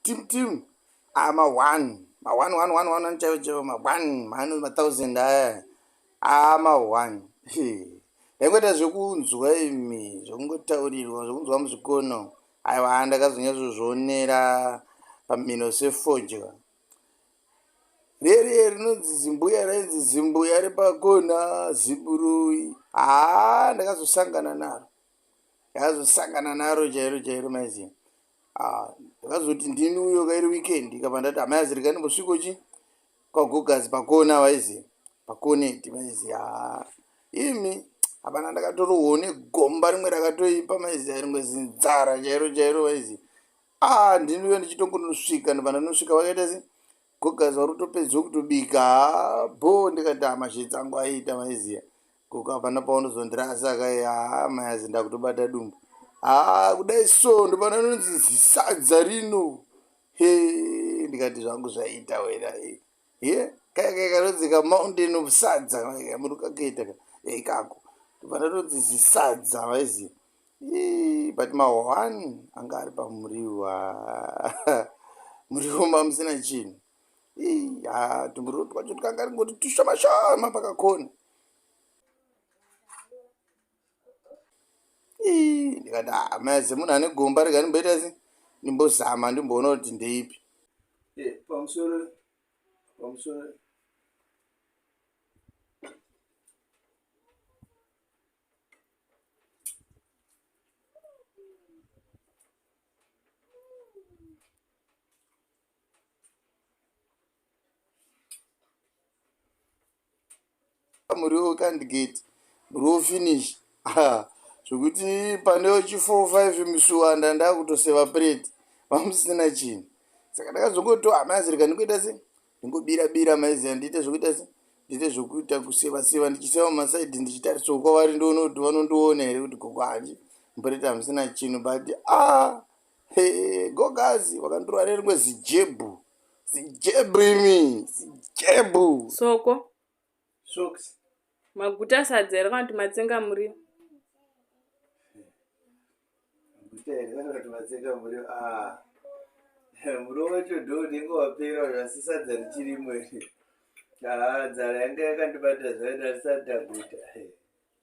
tim tim ah, ma one ma one one one one chaivo chaivo ma one mano ma thousand aya ah, ma one ndaingoita zvekunzwa imi zvekungotaurirwa zvekunzwa muzvikono aiwa ndakazonyazozvionera pamino sefodya reri rinonzi zimbuya rainzi zimbuya repakona ziburui haa ndakazosangana naro ndakazosangana naro chairo chairo maiziva Ah, ndakazoti ndini uyo kairi weekend ikabva ndati amai azirikani mbosviko chi kwagogazi pakona vaizi pakoneti vaizi ha imi hapana ndakatorohwo negomba rimwe rakatoipa maizi arimwe zinzara chairo chairo vaizi a ndini uyo ndichitongonosvika ndibva ndanosvika vakaita se gogazi vari kutopedzwa kutobika ha bho ndikati amashetsi angu aiita maiziya Gogo hapana paunozondirasa kaye haa mayazi ndakutobata dumbu. Haa kudai so ndopana nonzi zisadza rino. He ndikati zvangu zvaita wena. He kaya kaya kanonzi ka mountain of sadza kaya munhu kakaita ka. He ikako ndopana nonzi zisadza maizi. He but mahwani anga ari pamuriwa. Muriwo mamusina chinhu. He haa tumuriwo twacho twanga ringoti tushoma shoma pakakona. ndikati ah, maya dzemunhu ane gomba rega ndimboita se ndimbozama ndimboona kuti ndeipi eh, pamusoro pamusoro muriwo wekandgate muriwo finish zvekuti pane chi 45 misuwanda ndakutoseva prate vamusina chinhu saka ndakazongoto hamazirika ndikuita se ndingobira bira maiziva ndiite zvekuita se ndiite zvekuita kuseva seva ndichiseva masaidi ndichitarisawo kwavari ndiono kuti vanondiona here kuti gogo hanji mprate hamusina chinhu but a ah, Hey, gogazi wakandirova nerimwe zijebhu zijebhu imi zijebhu soko socks maguta sadza here kana kuti matsenga muriwo maguta here kana kuti matsenga muriwo ah. muriwo wacho do unenge wapera uyo asi sadza richirimo iri haa nzara yanga yakandibatira zvaida risati taguta